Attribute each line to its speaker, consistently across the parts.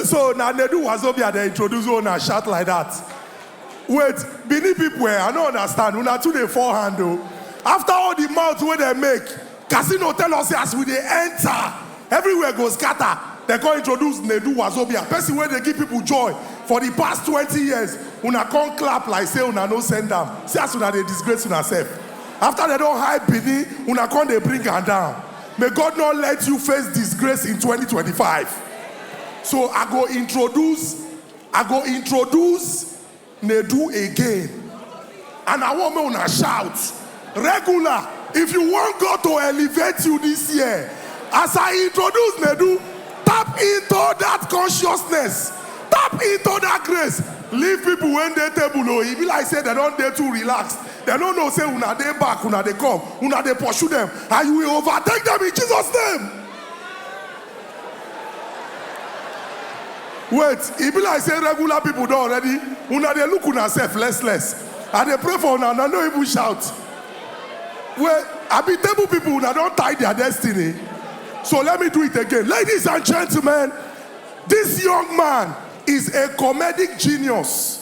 Speaker 1: So na Nedu Wazobia dem introduce wey una shout like that? Wait, Benin people eh, I no understand, una too dey fall hand o. After all the mouth wey dem make, Casino tell us say as we dey enter, everywhere go scatter, dem come introduce Nedu Wazobia, person wey dey give people joy for the past twenty years, una come clap like say una no send am, see as una dey disgrace una self. After dem don hype Benin, una come dey bring am down. May God no let you face disgrace in twenty twenty five so I go introduce I go introduce Nedu again and I want make una shout regular if you want God to elevate you this year as I introduce Nedu tap into that consciousness tap into that grace leave people wey dey table o e be like say dem don dey too relaxed. Dem no know say una dey back, una dey come, una dey pursue dem, and you will overtake dem in Jesus name. Wait, e be like say regular people don already, una dey look una sef less less. I dey pray for una, una no even shout. Wait, abi table people una don tie their destiny? So let me do it again. Ladies and gentlemen, this young man is a comedic genius.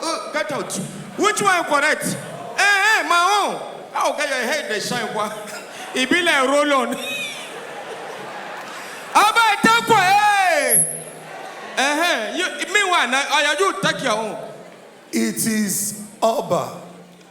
Speaker 1: Uh, get out. Which one correct? Eh, eh, my own. How get your head dey shine kwa? E be like roll on. Aba take kwa eh. Eh, eh. You meanwhile, na oya you take your own. It is Oba.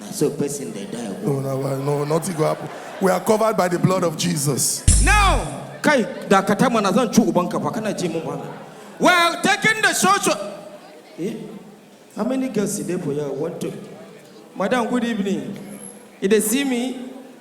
Speaker 1: Na so person dey die go. No, no, well, no, nothing go happen. We are covered by the blood of Jesus. Now, kai dakata mana zan ci ubanka fa kana ce mun bana. Well, taking the social. Eh? How many girls dey for here? One, two. Madam, good evening. You dey see me?